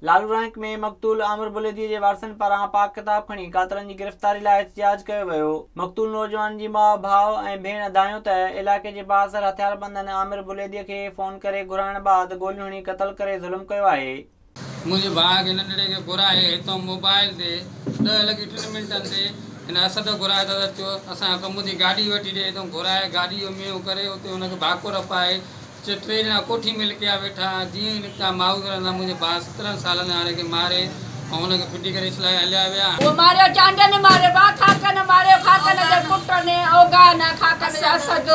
لارو رانڪ ۾ مقتول عامر بليديء جي وارثن پاران پاڪ ڪتاب کڻي قاتلن جي گرفتاري لاء احتجاج ڪيو ويو. مقتول نوجوان جي ماء، ڀاء ۽ ڀيڻ اڌايون ته علائقي جي بااثر هٿياربندن عامر بليديء کي فون ڪري گهرائڻ بعد گوليون هڻي قتل ڪري ظلم ڪيو آهي. منهنجي ڀاء کي ننڍڙي کي گهرائي هتان موبائيل تي ڏهه لڳي ٽن منٽن تي هن اسد کي گهرائي دادا چيو اسان کي ڪم اٿي گاڏي وٺي ڏي هتان گهرائي گاڏي جو مينهن ڪري اتي هن کي ڀاڪر پائي چي ٽي ڄڻا ڪوٺي ۾ لڪيا ويٺا ها جيئن ئي نڪتا مائوس رندا منهنجي ڀاء سترهن سالن هاڻي کي ماري ۽ هن کي ڦٽي ڪري اسلائي هليا ويا هن ماريو چانڊيو نه ماريو ڀاء خاڪن ماريو خاڪن جي پٽ ني اوگا نه خاڪن جي اسد.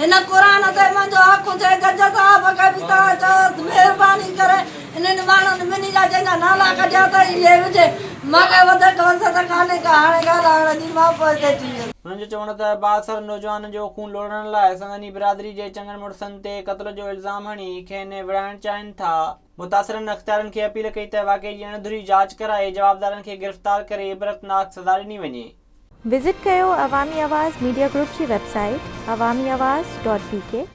هن قرآن تي منهنجو حق ٿئي ته جزا بخش به توهان چئو ته مهرباني ڪري انهن ماڻهن ٻنهي جا جن جا نالا ڪڍيا اٿئي اهي وجهي مان ڪا وڌيڪ وسعت ڪانهي ڪا هاڻي ڳالهائڻ جي مان پوئتي ٿي ويس. هنن جو چوڻ هو ته بااثر نوجوانن جو خون لوڙهڻ لاء سندن ئي برادري جي چڱن مڙسن تي قتل جو الزام هڻي کين وڙهائڻ چاهين ٿا. متاثرن اختيارين کي اپيل ڪئي ته واقعي جي اڻ ڌري جاچ ڪرائي جوابدارن کي گرفتار ڪري عبرتناڪ سزا ڏني وڃي. وزٽ ڪيو عوامي آواز ميڊيا گروپ جي website Awami Awaz dot بي ڪي.